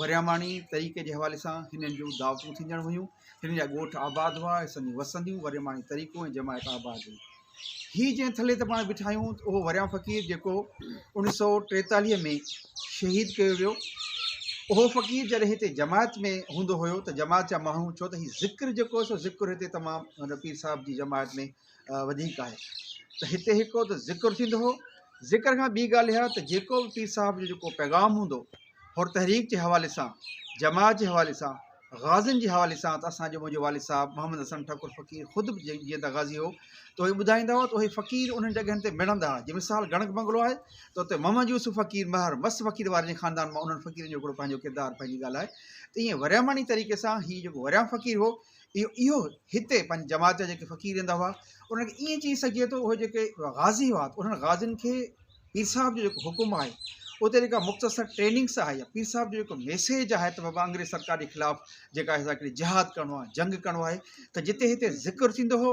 ورياماڻي طريقي جي حوالي سان هنن جون دعوتون ٿيندڙ هيون. هنن جا ڳوٺ آباد هئا، هيسن جون وسنديون، ورياماڻي طريقو ۽ جماعت آباد هئي. هي جنهن ٿلهي تي پاڻ بيٺا آهيون ته اهو وريام فقير جيڪو اوڻيهه سؤ ٽيتاليهه ۾ شهيد ڪيو ويو. اهو فقير جڏهن هتي جماعت ۾ هوندو هيو ته جماعت جا ماڻهو ڇو ته هي ذڪر جيڪو سو ذڪر هتي تمام هن پير صاحب جي جماعت ۾ وڌيڪ آهي ته هتي هڪ ته ذڪر ٿيندو هو ذڪر کان ٻي ڳالهه اها ته جيڪو به پير صاحب جو جيڪو پيغام هوندو هو تحريڪ جي حوالي سان جماعت جي حوالي سان غازين جي حوالي سان ته اسان جو منهنجو والد صاحب محمد حسن ٺڪر فقير خود به جيئن ته غازي هو ته اهي ٻڌائيندا هئا ته اهي فقير انهن جڳهن تي مڙندا هئا جي مثال گڻڪ بنگلو آهي ته اتي محمد يوسف فقير مهر مس فقير وارن جي خاندان مان انهن فقيرن جو هڪڙو پنهنجو ڪردار پنهنجي ڳالهه آهي ته ائين ورياماڻي طريقي سان هي جيڪو وريام فقير هو اهو هتي پنهنجي جماعت جا جيڪي فقير ايندا هئا انهن کي ائين چئي سگهجي ٿو اهي جيڪي غازي هئا انهن غازين کي پير صاحب جو جيڪو حڪم آهي اتي جيڪا مختصر ٽريننگس آهي يا پير صاحب جو جيڪو ميسيج آهي ته بابا انگريز سرڪار جي خلاف جيڪا اسان کي جهاد ڪرڻو آهي جنگ ڪرڻو آهي ته جتي هتي ذڪر ٿيندو هو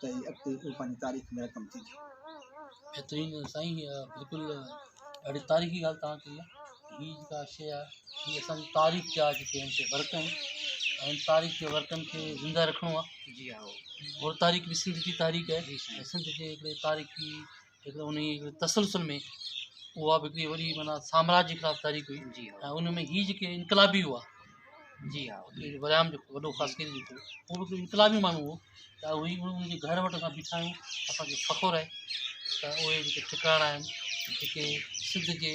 ته هي اڳتي اهو پنهنجي تاريخ ۾ رقم ٿيندي. بهترين سائين بلڪل ڏاڍي تاريخي ڳالهه توهان ڪئي آهي هي جيڪا شيء آهي هي اسان جي تاريخ جا جيڪي هن تي ورق آهن ۽ تاريخ جي ورقن کي زنده رکڻو آهي جي ها هو تاريخ به سنڌ جي تاريخ آهي سنڌ جي هڪڙي تاريخي هڪ ته انهيء هڪڙي تسلسل ۾ اها به هڪڙي وڏي معنيٰ سامراجي خلاف تحريڪ هئي جي ها ۽ ان ۾ هي جيڪي انقلابي هئا جي ها جيڪي ورهايم جو وڏو خاص ڪري جيڪو هو به هڪڙو انقلابي ماڻهو هو ته اهو هي ان جي گهر وٽ اسان بيٺا آهيون اسان کي فخر آهي ته اهي جيڪي ٽڪاڻا آهن جيڪي سنڌ جي